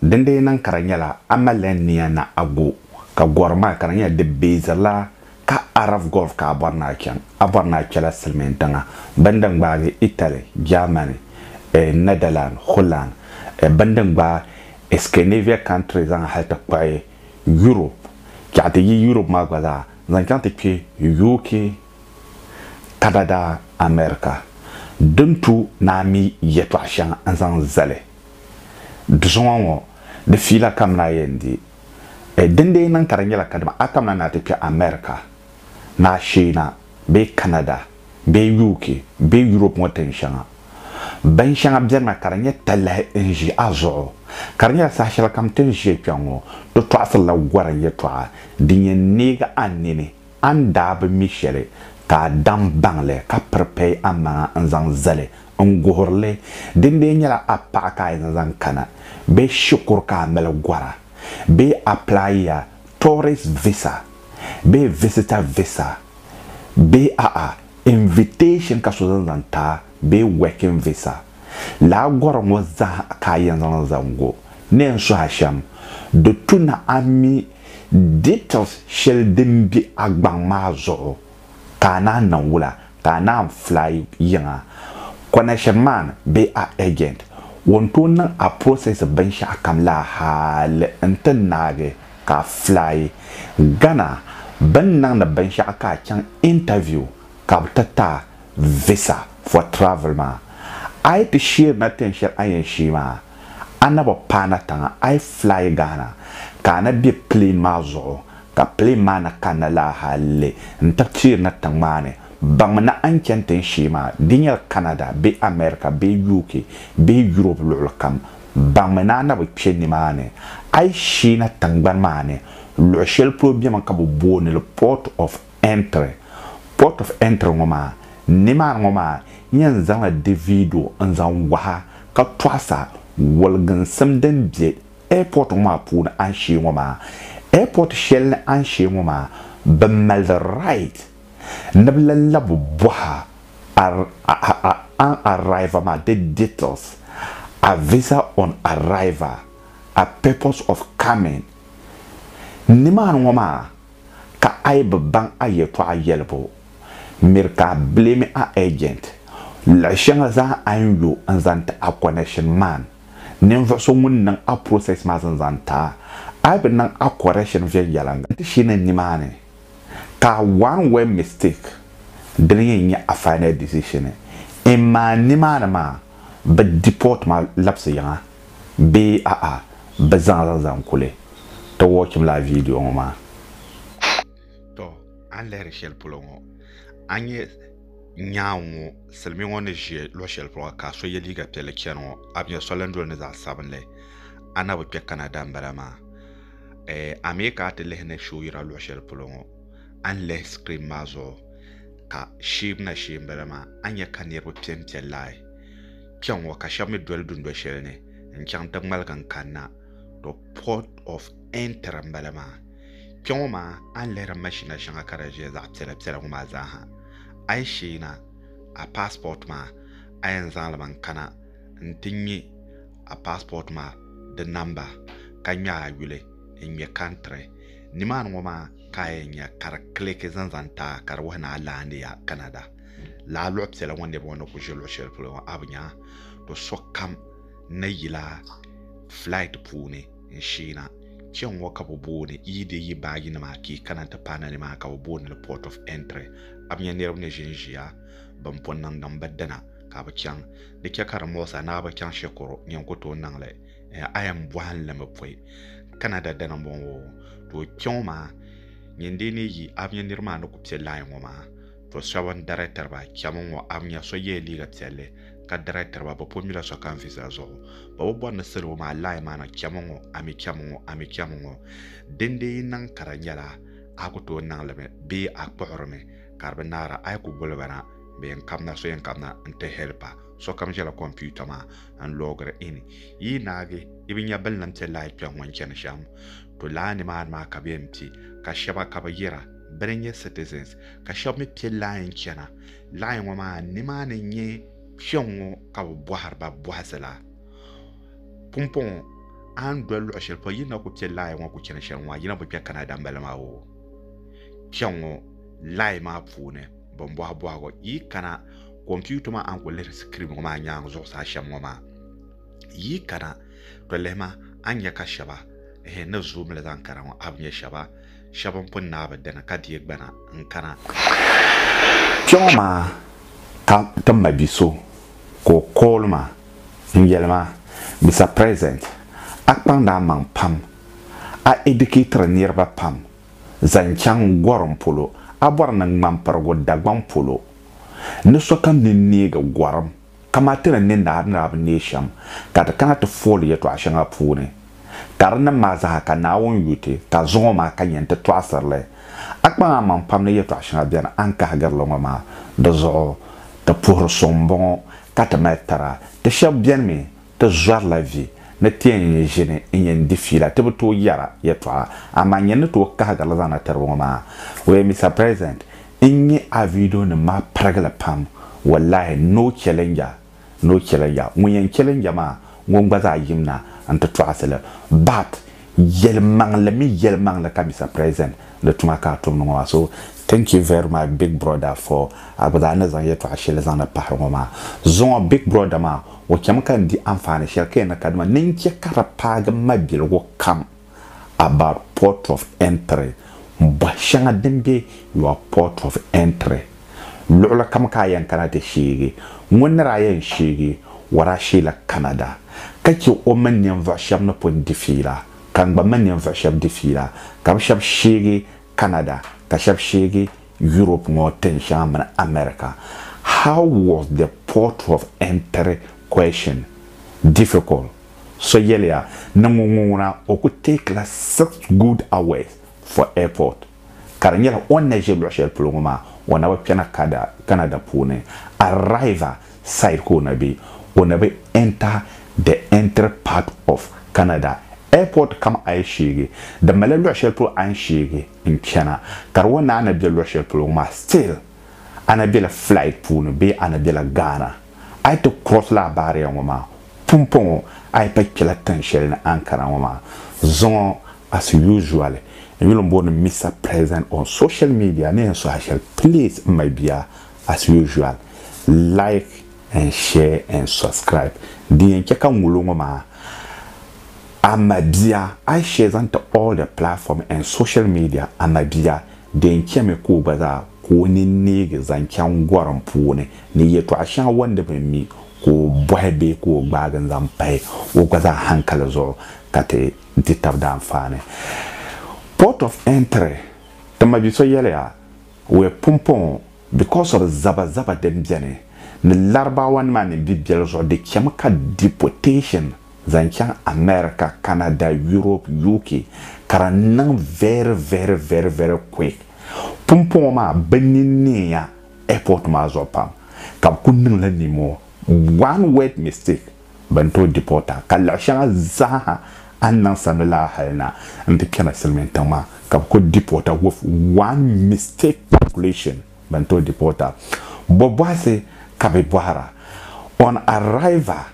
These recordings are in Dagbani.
Dindee niŋ ka di nyɛla a malila nia ni a go ka gɔri maa ka di nyɛla di beezirila ka a raf gɔlf ka a bɔri ni a chaŋ. A bɔri ni a kpɛla silimiin tiŋa bini din gbaagi Itali, Jaamani, e Nɛdalan, Hulan, e bini din gbaai Iskanavia kantiri zaŋ hali ti kpuɣi Yurop, chɛɣu ti yi Yurop maa gba zaa zaŋ chaŋ ti kpe UK, Kanada, America. Di ni tu ni a mi yɛtɔɣ shɛŋa n-zaŋ zali. Dusuŋɔ ŋɔ di fiila kamina yɛn di eh, din dee niŋ ka di nyɛla kadama a kamina naa ti kpɛ America ni a sheei na bee Canada bee UK bee Europe ŋɔ tin shɛŋa. Bin shɛŋa bɛrina ka di nyɛ talahi n ʒi a zuɣu. Ka di nyɛla saha shɛli kam tin ʒiya kpɛ ŋɔ ti tɔɣisirila gorim yɛtɔɣa din yɛn neegi a nini a ni daa bi mi shɛli ka a daŋ baŋ li ka piri pɛi a maŋa n zaŋ zali N guhirili, din bee nyɛla a paɣa ka a yɛn zaŋ kana bee shikuru ka a mali gɔra bee applaiya tourist visa bee visitor visa bee a'a invitation ka so zaŋ zaŋ ti a bee working visa. Lala gɔri ŋɔ zaa ka a yɛn zaŋ zaŋ go. Ni yɛn suhi a shɛm, di tu ni a mi details shɛli din be a gbaŋ maa zuɣu. ka a naan niŋ wula ka a naan fly yiŋa connection man bee a agent wan tooi niŋ a process binshɛɣu kam la hali n ti naagi ka a fly Ghana bɛn niŋdi binshɛɣu ka a chaŋ interview ka bɛ ti ti a visa for travel maa a yi ti sheeri na tin shɛli a yɛn sheei maa a na bi paai na tiŋa a yi fly Ghana ka a na be plane maa zuɣu Ka pilim maa na kanna laa hali n-ti Tirna tiŋmaani, baŋmi ni a ni chani tin shee maa, di nyɛla Canada bee America bee UK bee Europe luɣilikam, baŋmi ni a na bi kpe nimaani. A yi sheena tiŋgbani maa ni, luɣ shɛli polo bemi ka bɛ booni li Port of Entry. Port of Entry ŋɔ maa, nimaani ŋɔ maa yɛn zaŋla Davido n-zaŋ wahi a ka tɔɣis a waliginsim din be Airport ŋɔ maa puuni anshee ŋɔ maa airport shɛli ni anshee ŋɔ maa bɛ mali the right ni bɛ lan labi bɔha an arrival maa di details, a visa on arrival, a purpose of coming. Nimaani ŋɔ maa ka a yi bi baŋ a yɛltɔɣa yɛlibu miri ka a blame a agent luɣi shɛŋa zaa a ni yo n zaŋ ti a connection man. ninvuɣ so ŋun niŋ a process maa zan zaŋ ti a, a yi bi niŋ a correction viɛnyɛliŋga, nti shee ni nimaani ka one word mistake dini yɛn nyɛ a final decision, imma nimaani maa bɛ deport ma labisi yiŋa bee a'a bɛ zaŋ a zaŋ zaŋ kuli ti watchim lala video ŋɔ maa. Tɔ a ni lihiri shɛli polo ŋɔ a nyɛ. Nyaŋ ŋɔ, silimiin ŋɔ ni ʒe luɣ shɛli polo ka so ye liiga piɛlli chani ŋɔ, a bi nya soli ni doli ni zaɣ sabinli? A na bi kpe Canada m-bala maa? Ɛɛh, a mi ka a ti lihi ni shoo yira luɣ shɛli polo ŋɔ? A ni lihi screen maa zuɣu ka sheei na shee m-bala maa, a ni nya ka niriba pempe laai kpɛŋŋɔ ka shɛba mi doli dundoli shɛli ni n-chaŋ ti ŋmaligi n-kanna. The port of entry m-bala maa. Kpɛ ŋɔ maa a ni lihiri mashina shɛŋa ka di ʒiya zaɣ piɛla piɛla ŋɔ maa zaa ha a yi sheena a paasipɔt maa a yɛn zaŋ li mi n kana n ti ŋmɛ a paasipɔt maa di namba ka ŋmɛ a yuli n ŋmɛ kantiri nimaani ŋɔ maa ka a yɛn nya ka di kiliki zaŋ zaŋ ti a ka di wuhi ni a laandi ya Canada laa luɣi piɛla ŋɔ niriba ŋɔ ni ku ʒi luɣi shɛli polo ŋɔ a bi nya do sokam ni yila flight puuni. n sheena. Kpɛŋŋɔ ka bɛ booni yi di yi baai yinima akii kana nti paai na nimaani ka bɛ booni li Port of Entry. A bi nya niriba ni ʒinʒiya bɛn pun niŋ din bi dina ka a bi chaŋ? Di chɛ ka di muɣisi a ni a bi chaŋ shɛkuru nyin ku tooi niŋ li. A yɛn bɔhi n li mi pɔi. Canada dana m-bɔŋɔ. Too kpɛŋɔ maa nyin dee ni yi a bi nya nirimaa ni ku piɛ line ŋɔ maa. To shɛba n darɛtiri ba chɛmi ŋɔ a nya so yɛla liiga piɛlli ka darɛtiri ba bɛ pun mila so kam visa zuɣu bɛ bi bɔri ni salo maa lahi maana chɛmi ŋɔ a mi chɛmi ŋɔ a mi chɛmi ŋɔ dindee yi niŋ ka di nyɛla a ku tooi niŋ li mi bee a kpuɣiri mi ka di bi naara a yi ku guli ba na bɛ yɛn kabina so yɛn kabina n ti hɛlipa sokam ʒɛla kompiuta maa n loogiri in yi yi naagi yi bi nya bilinim piɛ lahi kpɛŋ ŋɔ n chani shɛm to laa nimaani maa ka bɛ yɛn pi ka shɛba ka bi yira bɛ ni nyɛ citizens ka shɛba mi pe laai n-chana. Laai ŋɔ maa nimaani n-nyɛ kpɛŋŋɔ ka bɛ bɔhiri ba bɔhisi la. Pumpɔŋɔ, a ni doli luɣ shɛli polo yi ni na ku pe laai ŋɔ ku chani shɛli ŋɔ, yi na bi kpe Canada m-bala maa oo. Kpɛŋŋɔ laai maa puuni bɛn bɔhi bɔhigu, yi kana computer maa a ni ku lihiri screen ŋɔ maa nyaaŋa zuɣusaa shɛm ŋɔ maa, yi kana tɔ lihi ma a ni nya ka shɛba ehe ni zooi mi li zaŋ kana ŋɔ a bi nya shɛba. shɛba m-pun naai bi dini ka deei gbana n-kana. Kpɛŋɔ maa ka ti ma bi so ka o call ma n-yɛli ma, Mister President, a kpaŋdi a maŋ pam, a educatiri niriba pam zaŋ chaŋ gorim polo, a bɔri ni ŋmampirigu Dagbaŋ polo ni sokam ni neegi gorim. Kaman ti ni ni naai niriba neei shɛm ka ti kana ti fooli yɛtɔɣ shɛŋa puuni, ka di niŋ maa zaaha ka Naawuni yu ti, ka zuŋ o maa ka yɛn ti tɔɣisiri li. A kpaŋ a maŋ pam ni yɛtɔɣ shɛŋa beni a ni kahigiri li ŋɔ maa. Di zuɣu, ti puhiri so m-bɔŋɔ, ka ti mali tara. Ti shɛb beni mi, Ti zɔrila vi ni ti yɛn nyɛ ʒini n-yɛn di fiila ti bi tooi yɛra yɛtɔɣa amaa n-yɛn ni tooi kahigirili zaŋna tiri ba ŋɔ maa. Wee Mister President, n nya a video nim maa pirigili pam wallahi no challenger no challenger ŋun yɛn challenger maa ŋun gba zaa yimna n-ti tɔɣisili but, Yɛlimaŋli mi yɛlimaŋli ka Mister President di tuma ka a tumdi ŋɔ maa so thank you very much big brother for a gba zaa ni zaŋ yɛltɔɣa shɛli zaŋdi pahiri ŋɔ maa zuŋɔ big brother maa o chami ka n di anfaani shɛli ka yɛn ni kadama ni n chɛ ka di paagi m ma biligu kam about port of entry m bɔhi shɛŋa din be your port of entry. Luɣilikam ka a yɛn kana ti sheegi ŋun ni daa yɛn sheegi Warashie la Canada, ka chɛ o mini ninvuɣ shɛb ni pun di fiila, ka n gba mini ninvuɣ shɛb di fiila, ka bɛ shɛb sheegi Canada, ka shɛb sheegi Europe ŋɔ tin shɛŋa mini America. How was the port of entry question difficult? So yɛliya ni ŋun ŋuna o ku take la six good hours for airport. ka di nyɛla o ni na ʒe luɣ'shɛli polo ŋɔ maa o na bi kpɛna kada Canada puuni arriver side ka o na be o na bi enter the entry part of Canada airport kam a yi sheegi di malila luɣ'shɛli polo a ni sheegi n chana ka di o naai na be luɣ'shɛli polo ŋɔ maa still a na bela flight puuni bee a na bela Ghana A yi ti kurɔsi la a baariya ŋɔ maa pumpɔŋɔ a yi pa kpɛla tiŋ shɛli ni a ni kana ŋɔ maa, zuŋɔ as usual n yuli m booni Mister President on social media ni yɛn suhi a shɛli please m my bia as usual like and share and subscribe din yɛn chɛ ka n wul o ŋɔ maa a my bia I share zaŋ ti all the platform and social media a my bia Di ni chɛmi ka o gba zaa ka o nini neegi zaŋ chaŋ gɔrim puuni ni yɛtɔɣ shɛŋa o ni bi mi ka o bɔhi bee ka o gbaagi n-zaŋ pahi o gba zaa hankali zuɣu ka ti di tab daanfaani. Port of Entry, Ti ma bi so yɛliya, We're pumpong because of zabazaba din beni ni Larabawanima ni bibiɛl zuɣu di chɛmi ka deportation zaŋ chaŋ America, Canada, Europe, UK ka di niŋ very very very very quick. Pumpɔŋɔ maa bɛ nini neeya airport maa zuɣu pam ka bɛ kuli niŋ la nimoo one word mistake bɛ ni tooi deport a ka luɣi shɛŋa zaaha a ni niŋ sani lala hali na n ti kpɛmi silimiin tiŋ maa ka bɛ kuli deport a with one mistake calculation bɛ ni tooi deport a. Bɔ bɔhisi ka bɛ bɔhira on arrival.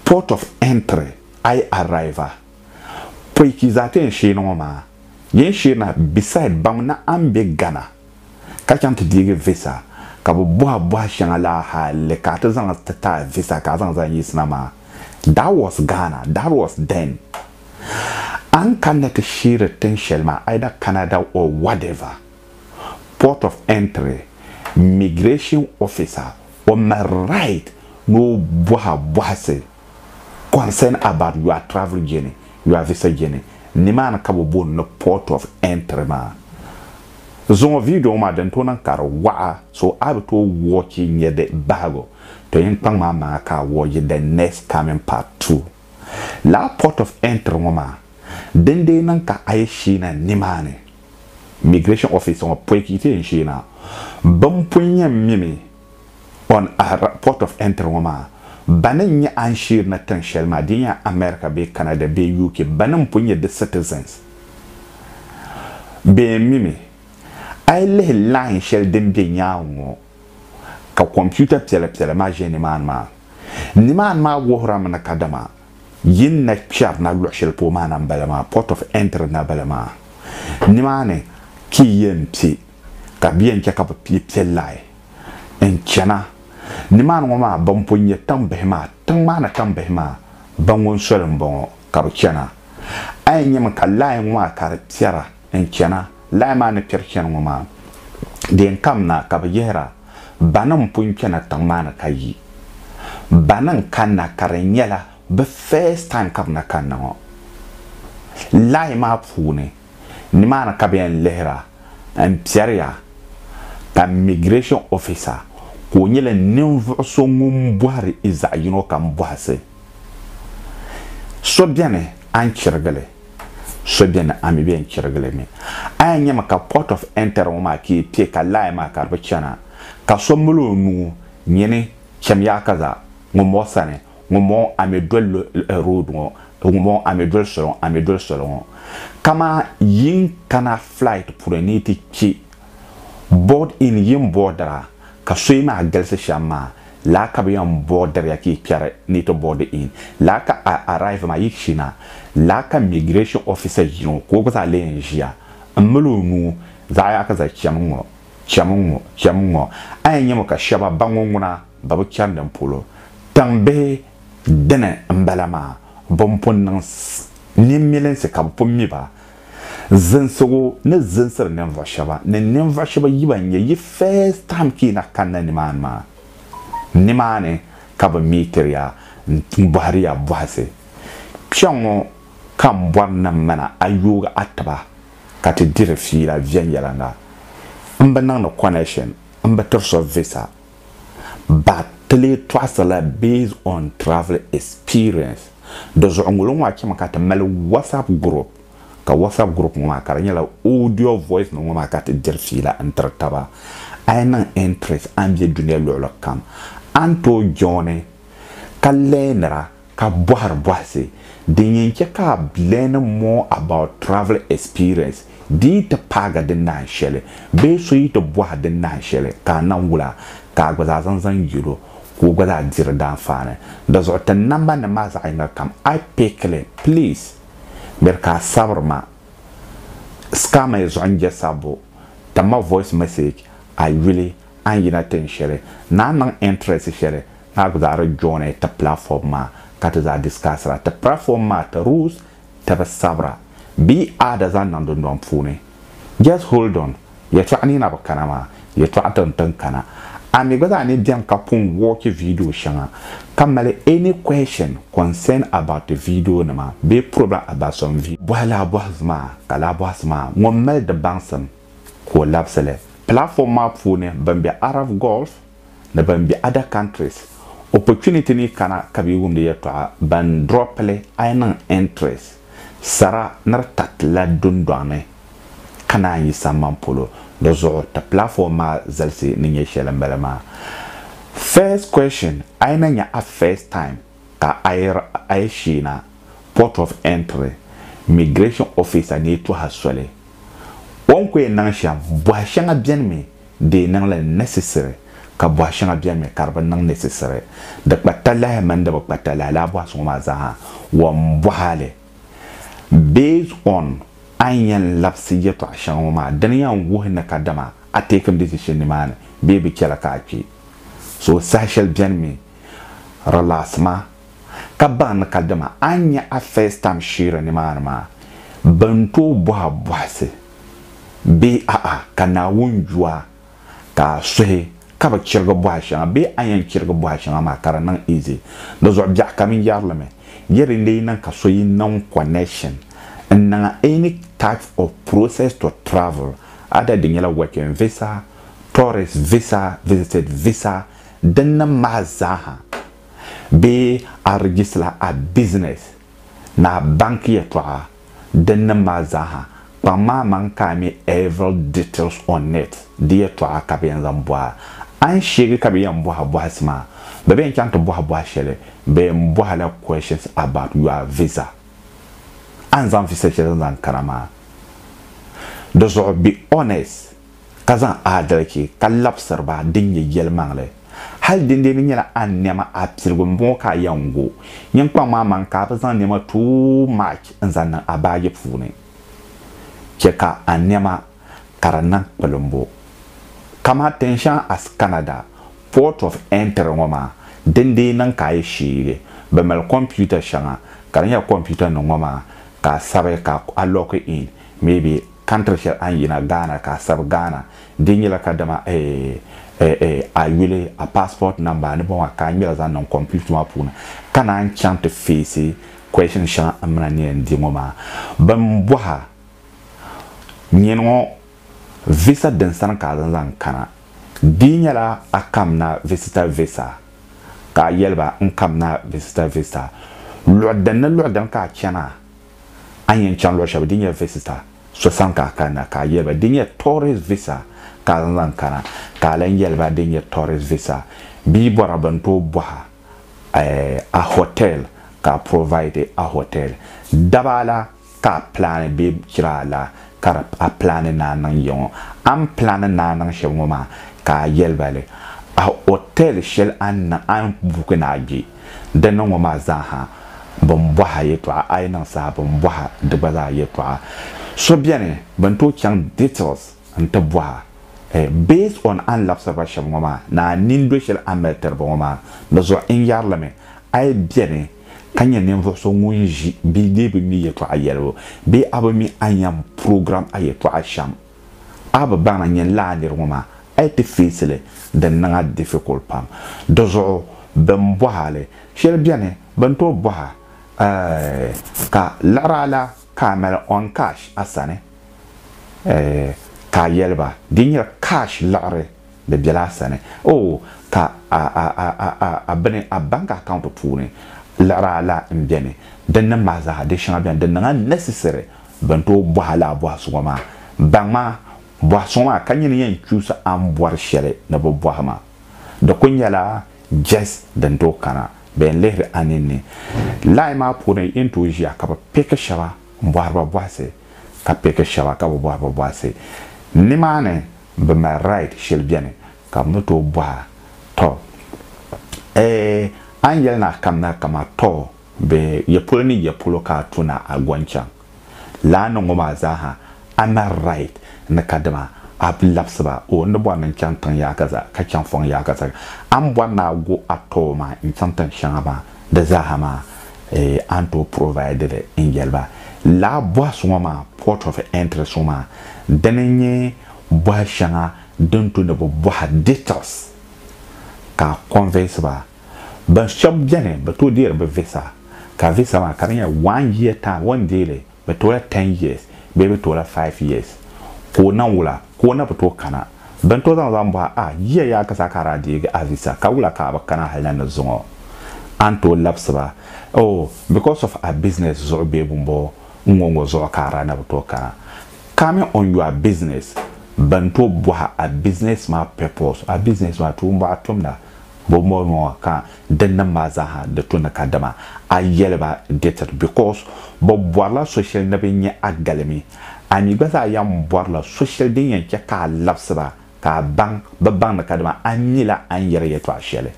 Port of Entry I arrive a pɔi ki zaa ti yɛn sheeni ŋɔ maa yɛn sheeni a beside baŋ ni a ni be Ghana ka chaŋ ti deegi visa ka bɛ bɔhi a bɔha shɛŋa la hali ka a ti zaŋ li ti ti a visa ka a zaŋ zali yiɣisina maa that was Ghana that was then a ni kanna ti sheeri tin shɛli maa either Canada or whatever. port of entry migration officer o mali right ni o boha bohisi concern about your travel journey your visa journey nimaani ka bi booni ni port of entry maa zuŋɔ video ŋɔ maa din tooi niŋ ka di waɣa so a bi tooi watch nyɛ di bahigu to yin kpaŋ maa maŋa ka a watch the next coming part two lala port of entry ŋɔ maa din dee niŋ ka a yi sheena nimaani Migration office ŋɔ pɔi ka yi ti yɛn sheei na. Bɛn pun yɛn mimi on Ahra port of entry ŋɔ maa, ba ni nyɛ a ni sheeri na tiŋ shɛli maa, di nyɛla America bee Canada bee UK, ba ni pun nyɛ di citizens, bɛ yɛn mimi. A yi lihi line shɛli din be nyaaŋa ŋɔ ka computer piɛla piɛla maa ʒe nimaani maa, nimaani maa wuhirimi ni kadama. Yi ni na kpɛri na luɣ shɛli polo maa na m-bala maa, Port of Entry na bala maa. Nimaani ka yi yɛn kpe ka bɛ yɛn chɛ ka bɛ yi kpe lahi n-chana. Nimaani ŋɔ maa, bɛn pun nyɛ tiŋ bihi maa, tiŋ maa ni tiŋ bihi maa, bɛ ŋun soli m-bɔŋɔ ka bɛ chana. A yɛn nyami ka lahi ŋɔ maa ka di kpɛra. n-chana lahi maa ni kpɛri chani ŋɔ maa, deen kam na ka bɛ yihira, Bana m-pun kpɛna tiŋ maa ni ka yi? Bana n-kanna ka di nyɛla bɛ first time ka bɛ na kanna ŋɔ? Lahi maa puuni, nimaani ka bɛ yɛn lihira m-piɛriya ka Immigration Officer ka o nyɛla ninvuɣ so ŋun bɔhiri i zaɣ yino kam bɔhisi. So beni a ni chirigi li? So beni a mi bɛ n chirigili mi. A yɛn nyami ka port of entry ŋɔ maa kii pɛ ka line maa ka di bi chana. Ka so mali o nuu nyini cham yaa ka za ŋun bɔŋɔ sani, ŋun bɔŋɔ a mi doli road ŋɔ, ŋun bɔŋɔ a mi doli soli ŋɔ, a mi doli soli ŋɔ. Kaman yin kana flight puuni ni yi ti kpi. Board in yin boodira ka soyi maa galisi shɛm maa, laa ka bɛ yɛn boodiriya ka yi kpɛri ni yi ti boodi in, laa ka a arrive maa yi china, laa ka migration officer yino ka o gba zaa lee yɛn ʒiya m-mali o nuu zaɣ yaha ka zali chami ŋ-ŋɔ, chami ŋ-ŋɔ, chami ŋ-ŋɔ, a yɛn nyami ka shɛba ba ŋɔ ŋuna bɛ bi chani din polo. Tiŋ bihi dini m-bala maa, bɛn pun niŋ nimilinsi ka bɛ pun mi ba, Zinsigu ni zinsiri ninvuɣ shɛba ni ninvuɣ shɛba yi ba n-nyɛ yi first time ka yi na kanna nimaani maa, nimaani ka bɛ meetiri ya m-bɔhiri ya bɔhisi. Kpɛŋɔ ka m bɔri ni m mana a yoogi a tiba ka ti diri fiila viɛnyɛliŋga. M bi niŋdi connection, m bi tiri so visa. ba ti lee tɔɣisi la based on travel experience. Di zuɣu ŋolo ŋɔ a chɛmi ka ti mali WhatsApp group ka WhatsApp group ŋɔ maa ka di nyɛla audio voice nim ŋɔ maa ka ti diri fiila n tiri taba. A yi niŋ interest a ni bɛ dunia luɣili kam a ni tooi joini ka learnira ka bɔhiri bɔhisi din yɛn chɛ ka a learn more about travel experience di yi ti paagi di nahin shɛli bee so yi ti bɔhi di nahin shɛli ka a nam wula ka a gba zaa zaŋ zaŋ yɛl o ka o gba zaa diri di anfaani. Di zuɣu ti nambanima maa zaɣ yiŋga kam I pick li. Please miri ka a sabiri ma. Scar ma yi zuɣu n-je sabbu, timma voice message a yuli. A ni yina tin shɛli, naa niŋ interest shɛli ka a zaa di join ti platform maa ka ti zaa discuss ra ti platform maa ti rules ti bi sabira bee a da zaŋ niŋ dundɔŋ puuni. Just hold on, yɛtɔɣa ni na bi kana maa, yɛtɔɣa ti ni tin kana. A mi gba zaa ni beni ka pun watch video shɛŋa ka mali any question concern about ti video nima bee problem about some video. Bɔhi lahabɔhisi maa ka lahabɔhisi maa ŋun mali di baŋsim ka o labisi li. Platform maa puuni ban be Arab Gulf ni ban be other countries opportunity ni kana ka be wumdi yɛltɔɣa ban drop li a yi niŋ entries sara ni di tariti la dundɔŋ ni ka naan yi samban polo di zuɣu ti platform maa zalisi ni nyɛ shɛli m bala maa. First question, a yi na nya a first time ka ayir ayishiina, port of entry, migration officer ni yi tɔha soli. O ni kuyɛn niŋ shɛm, bɔha shɛŋa beni mi di yi niŋ li necessary ka bɔha shɛŋa beni mi ka di bi niŋ necessary. Di kpa talahi mini di bi kpa talahi lala bɔha so ŋɔ maa zaaha wa m-bɔha li. Based on a ni yɛn labisi yɛtɔɣa shɛŋa ŋɔ maa, dini yɛn wuhi ni kadama a teekimi decision nimaani bee bi chɛla ka a kpi. So saha shɛli beni mi Relax ma ka baŋ ni ka dama a ni nya a first time sheera nimaani maa bɛ ni tooi bɔh a bɔhisi bee a'a ka Naawuni ju a ka a suhi ka bi chirigi bɔha shɛŋa bee a yɛn chirigi bɔha shɛŋa maa ka di niŋ easy. Di zuɣu biɛɣu ka mini yɛrilimi yɛ din lee niŋ ka so yi niŋ connection n niŋ any type of process to travel either di nyɛla working visa, tourist visa, visited visa, din niŋ maha zaaha bee a rijisila a bizinɛs ni a banki yɛltɔɣa din niŋ maha zaaha, kpaŋ ma amaŋ ka a mi Every Details on it di yɛltɔɣa ka bɛ yɛn zaŋ bɔhi a. A ni sheegi ka bɛ yɛn bɔhi a bɔhisi maa, bɛ bi yɛn chaŋ ti bɔhi bɔhi shɛli, bɛ yɛn bɔhi a la questions about your visa, a ni zaŋ visa shɛli zaŋ kana maa, di zuɣu be honest. ka zaŋ aadalichi ka labisiri ba din nyɛ yɛlimaŋli. Hal dindee ni nyɛla a nɛma a piligu m-bɔŋɔ ka a yɛn go yiŋkpaŋ maa maŋ ka a bi zaŋ nɛma tooi march n-zaŋ niŋ a baaji puuni. Chɛ ka a nɛma ka di niŋ kpilimbu. Kaman tinshɛŋa as Canada, Port of Entry ŋɔ maa, dindee niŋ ka a yi sheegi bɛ mali kompiuta shɛŋa ka di nyɛla kompiutanima ŋɔ maa ka a sabi ka a lock in, maybe. Country shɛli a ni yina Ghana ka a sabi Ghana di nyɛla kadama a yuli a passport number ni bɔŋɔ ka a ŋmɛli zaŋ niŋ computer maa puuni ka naan chaŋ ti face question shɛŋa n mina ni yɛn di ŋɔ maa. Bɛn bɔh a nyini ŋɔ visa din sani ka a zaŋ zaŋ kana di nyɛla a kamna visitor visa ka a yɛli ba n kamna visitor visa luɣi din ni luɣi din ka a chana A ni yɛn chaŋ luɣ shɛba din nyɛ visita so sani ka a kanna, ka a yɛli ba din nyɛ tourist visa ka a zaŋ kana, ka a lan yɛli ba din nyɛ tourist visa bɛ yi bɔra bɛ ni tooi bɔh a hotel ka a provide a hotel. Daba la ka a plani bee jiraa la ka di a plani ni a niŋ ya ŋɔ. A ni plani ni a niŋ shɛli ŋɔ maa ka a yɛli ba li a hotel shɛli a ni niŋ a ni buki ni a gbi. Di ni ŋɔ maa zaaha bi ni bɔhi a yɛtɔɣa, a yi niŋ saha bi ni bɔhi a di gba zaa yɛtɔɣa. So beni bi ni tooi chaŋ details n-ti bɔhi a. Based on a ni labisiri ba shɛba ŋɔ maa ni a nini doli shɛli a ni mali tiri ba ŋɔ maa, di zuɣu n yɛri li mi, a yi beni ka nyɛ ninvuɣu so ŋun ʒi bee dee bi mi yɛtɔɣa yɛlibu bee a bi mi a ni yɛn program a yɛtɔɣa shɛm, A bi baŋ n yɛn lahi niri ŋɔ maa, a yi ti feesi li di niŋ a difficult pam. Di zuɣu bɛn bɔhi a li shɛli bɛni bɛn tooi bɔhi a eeh ka liɣiri a la ka a mali on cash a sani eeh ka a yɛli ba di nyɛla cash liɣiri di bɛla a sani ooh ka a a a a a bini a bank account puuni liɣiri a la n bɛni din nim maa zaa di shɛŋa bɛni di niŋ a necessary Bɛn tooi bɔhi a lala bɔhi suŋɔ maa, baŋ ma bɔhi suŋɔ maa ka nyini yɛn chuusi a ni bɔri shɛli ni bɛ bɔhi ma. Di kul nyɛla jɛsi din tooi kana bɛ yɛn lihiri a ninni. Lahi maa puuni yi ni tooi ʒiya ka bɛ piki shɛba m-bɔhiri ba bɔhisi ka piki shɛba ka bi bɔhiri ba bɔhisi. Nimaani bɛ mali right shɛli beni ka bɛ ni tooi bɔhi a, tɔ! Eeh! A ni yɛli ni a kamina kaman tɔ! Bɛ ya polo ni ya polo ka a tu ni a go n-chaŋ laa ni ŋɔ maa zaa ha, a na right ni kadama a bi labisi ba. O ni bɔri ni n-chaŋ tiŋ yaaka zaa ka chaŋ fɔŋ yaaka zaa, a ni bɔri ni a go a tɔbu maa n-chaŋ tin shɛŋa maa, di zaa ha maa a ni tooi provide li n-yɛli ba. Laa bɔhisi ŋɔ maa, port of entrance ŋɔ maa, dini n-nyɛ bɔhi shɛŋa din tu ni bɛ bɔha details ka a convince ba. Bɛ shɛb beni bɛ tooi deeri bɛ visa ka visa maa ka di nyɛ one year time o ni deei li bɛ toola ten years bee bɛ toola five years ka o na wula ka o na bi tooi kana bɛ ni tooi zaŋ o zaŋ bɔhi a yiya yaakazaa ka a daa deegi a visa ka wula ka a bi kana hali na ni zuŋɔ a ni tooi labisi ba oh because of a business zuɣu bee bɔmbɔŋɔ n ŋɔ ŋɔ zuɣu ka a daa na bi tooi kana coming on your business bɛ ni tooi bɔhi a business maa purpose a business maa tuumbuɣa tumda Bo mɔlmaŋa ka dinnim maa zaaha di tu ni kadama a yɛli ba dɛtiri because bɛ bɔrila so shɛli ni bɛ nya a galimi. A mi gba zaa yɛn bɔrila so shɛli din yɛn chɛ ka a labisi ba ka a baŋ bɛ baŋ ni kadama a nyila a ni yɛri yɛtɔɣ shɛli.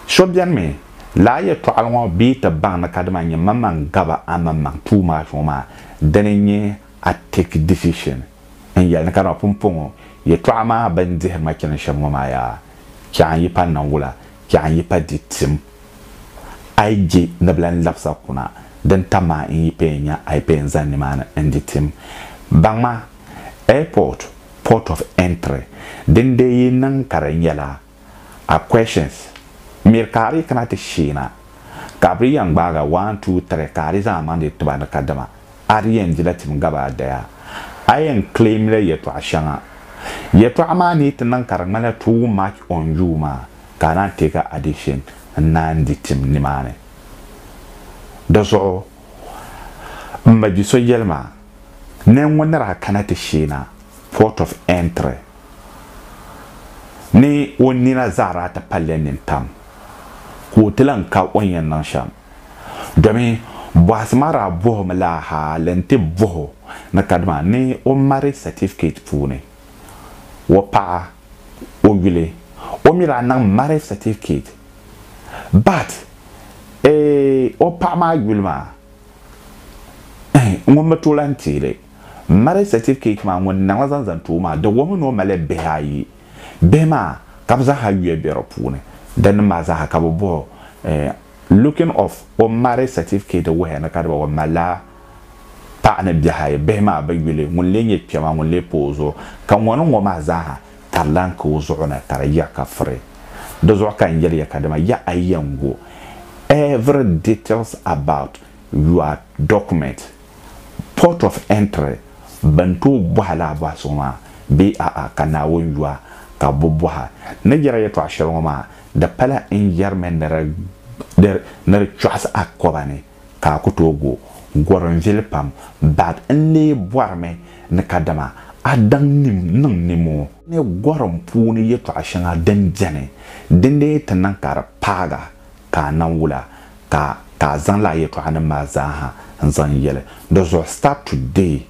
So beni mi, lala yɛtɔɣili ŋɔ bɛ yi ti baŋ ni kadama nyɛ maŋmaŋ gaba a maŋmaŋ tuuma zuɣu maa, dini n-nyɛ a take decision. n yɛli ni ka dama pumpɔŋɔ yɛtɔɣa maa bɛn dihiri ma chani shɛm ŋɔ maa yaa chɛɣu n yi pa naŋ wula chɛɣu n yi pa di tim a yi je ni bɛ lan labisa kuna din tam ma n yi paya nya a yi paya n zani nimaani n di tim baŋma airport port of entry din dee yi niŋ ka di nyɛla A questions Miri ka a dii kana ti sheena ka bɛ yɛn gbaaga one two three ka a dii zaŋ a maŋ dii tiba ni kadama a dii yɛn dila tim gabi a daya a yɛn claim la yɛtɔɣa shɛŋa yɛtɔɣa maa ni yi ti niŋ ka di ŋmanila too much on you maa ka a naan take addition n-naan di tim nimaani di zuɣu m ma bi so yɛli ma ni ŋun ni daa kana ti sheena port of entry ni o nina zaɣira ti palli nini pam ka o ti lan ka o ni yɛn niŋ shɛm. Domi bɔhisi maa daa bɔhimi la hal nti bɔh o ni kadama ni o marriage certificate puuni o paɣa o yuli o mi daa niŋ marriage certificate but eeh o paɣa maa yuli maa ŋun mi tooi lan teei li. Marriage certificate maa ŋun niŋla zaŋ zaŋ ti o maa, di wuhimi ni o malila bihi ayi. Bihi maa ka bɛ zaa ha yuya be di puuni. Dinni maa zaa ha ka bɛ bɔhi o, eh, looking of o marriage certificate wuhiya ni ka di ba o malila paɣa ni bihi ayi, bihi maa bi yuli, ŋun lee nyɛ kpɛma ŋun lee pa o zuɣu. Ka ŋɔ ni ŋɔ maa zaa ha ka di lan ka o zuɣu ni ka di yiɣi ka firi. Di zuɣu ka n yɛli ya ka dama ya a yɛn go every details about your document. port of entry, bɛn tooi bɔhi laa bɔhisigu maa bee a'a ka Naawuni yu a ka bɛ bɔha. Ni yɛra yɛtɔɣ shɛli ŋɔ maa, di pala n yɛrimi ni di ni di kpɔɣisi a kɔba ni ka a ku tooi go gɔri n vili pam bag n lee bɔrimi ni kadama a daŋ nim niŋ nimoo ni gɔri n puuni yɛtɔɣ shɛŋa din beni, dindee ti niŋ ka di paag a ka a nam wula ka ka a zaŋ lala yɛltɔɣanim maa zaaha n-zaŋ yɛli. Di zuɣu Start Today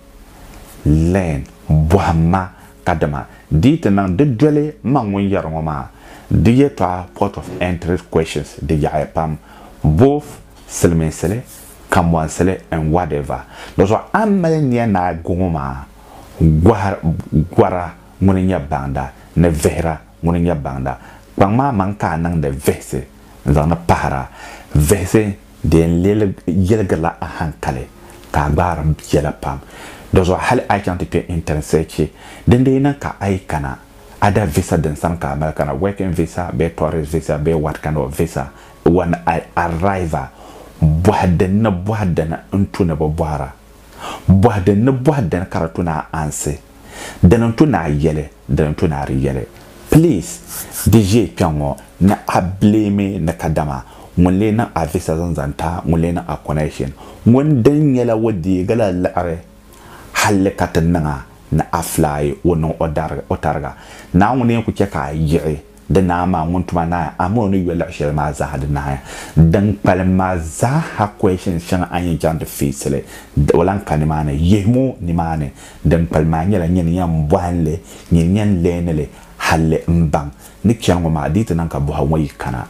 Learn, Bɔhim ma, kadama di yi ti niŋ di doli m ma ŋun yɛri ŋɔ maa, di yɛltɔɣa Port of Entry Questions di yaɣiya pam, both silimiinsili, kambɔnsili and whatever. Di zuɣu a ni mali nia ni a go ŋɔ maa, gɔhi gɔra ŋuni n-nyɛ baŋda ni vihira ŋuni n-nyɛ baŋda. Kpaŋ maa maŋ ka a niŋdi vihisi. n zaŋdi pahir a, vihisi di yɛn yiligirila a hankali ka a gbaari yɛla pam. Dɔzuɣu hali a yi chaŋ ti kpe intanesɛchi din di yi niŋ ka a yi kana a da visa din sani ka a mali kana, working visa bee tourist visa bee what kind of visa, when I arrive a bɔhi din ni bɔhi dini n tu ni bi bɔhira, bɔhi din ni bɔhi dini ka di tu ni a ansi. Dini n-to ni a yɛli, dini n-to ni a di yɛli. Please, di ʒiɛ kpɛŋ ŋɔ ni a blame ni kadama ŋun lee niŋ a visa zaŋ zaŋ ti a, ŋun lee niŋ a connection ŋun din nyɛla o deegi la liɣiri halli ka ti niŋ a ni a fly o niŋ o tariga. Naawuni n-yɛn ku chɛ ka a yiɣi. Di Naa maa ŋun tuma naai a mini o ni yo luɣ shɛli maa zaaha di naai a. Din kpalim maa zaaha kɔhishini shɛŋa a ni yɛn chaŋ ti fiisi li, o lan ka nimaani. Yihim o nimaani. Din kpalim maa nyɛla nyin yɛn bɔhi n li, nyin yɛn leeni li halli n baŋ ni chɛli ŋɔ maa dii ti niŋ ka bɔhigu ŋɔ yi kana.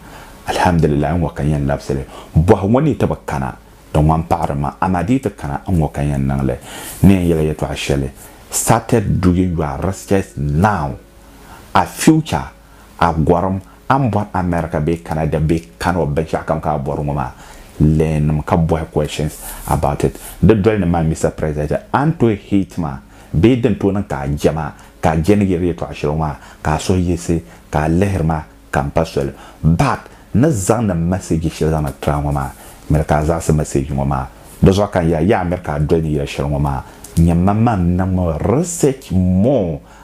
Alhamdulillahi n ŋɔ ka n yɛn labisi li. Bɔhigu ŋɔ ni yi ti bi kana, di ŋman paɣiri ma, amaa di yi ti kana, n ŋɔ ka n yɛn niŋ li. N ni yɛn yɛla yɛtɔɣ shɛli, Started doing your research now. a future, a gɔrim, a ni bɔri America bee Canada bee Kano binshɛɣu kam ka a bɔri ŋɔ maa, learn mi ka bɔhi questions about it. Di doli ni maa Mister President, a ni tooi hate ma bee din tooi niŋ ka a je ma ka a je ni yiri yɛltɔɣa shɛli ŋɔ maa ka a suhu yiɣisi ka a lihiri ma ka m pa soli back ni zaŋdi m message shɛli zaŋdi tira ŋɔ maa miri ka a zaɣisi message ŋɔ maa di zuɣu ka n yɛli a yaha miri ka a doli ni yɛli shɛli ŋɔ maa nyɛ ma maa n niŋ mi research more